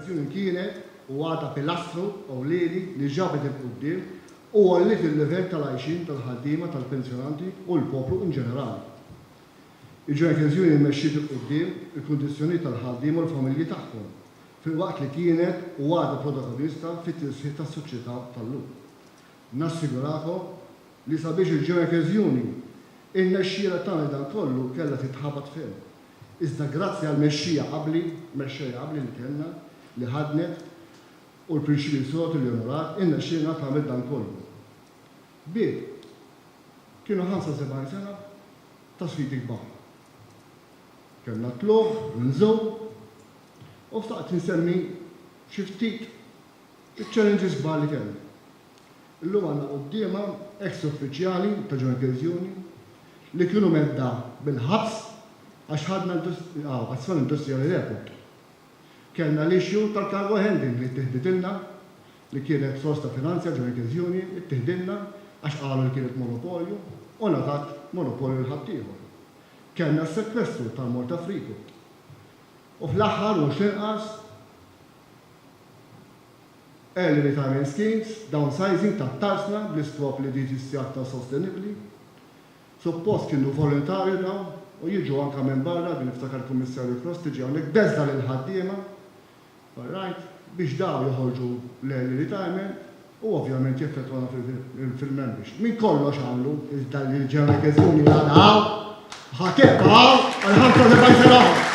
Il-koeżjoni kienet u għadha pilastru ewlieni li ġabet 'il quddiem u għolliet il-livell tal-għajxien tal-ħaddiema, tal-pensjonanti u l-poplu in ġenerali. Il-ġoekeżjoni mexxiet 'il quddiem il-kundizzjonijiet tal-ħaddiema u l-familji tagħhom, filwaqt li kienet u għadha protagonista fit-tisħiħ tas-soċjetà tal-lum. Nassigurakom li sabiex il-Jureka's Union irnexxielha tagħmel dan kollu kellha titħabat ferm. Iżda grazzi għall-mexxija abbli, mexxejja abbli li kellna, li ħaddnet u l-prinċipji sod li onorat, irnexxielna tagħmel dan kollu. Bieb. Kienu 75 sena ta' sfidi kbar. Kellna t-tlugħ, l-inżul u xtaqt insemmi xi ftit Iċ-challenge isbaħ li kellna. Illum għandna quddiemha eks uffiċjali ta' John Kilzioni li kienu medda bil-ħabs għax ħadna azzjoni industrijali rekord. Kellna l-issue tal-cargo handling li ttieħditilna, li kienet sors ta' finanzi għal John Kilzioni, ittiħdilna għax qalu li kienet monopolju u ngħatat monopolju lil ħaddieħor. Kellna s-sekwestru tal-Malta Freeport. U fl-aħħar u mhux l-inqas, Early Retirement Schemes, Downsizing tat-tarsna bl-iskop li din issir aktar sostenibbli. Suppost kienu volontarju dawn u jiġu anke minn barra, din niftakar il-Kummissarju Kross tiġi hawnhekk beżgħa lill-ħaddiema, all right, biex dawn joħorġu l-early retirement u ovvjament jeffettwana fil-membership. Minn kollox għamlu iżda li l-General Workers Union għadha hawn u ħa tibqa' hawn għal 75 sena oħra.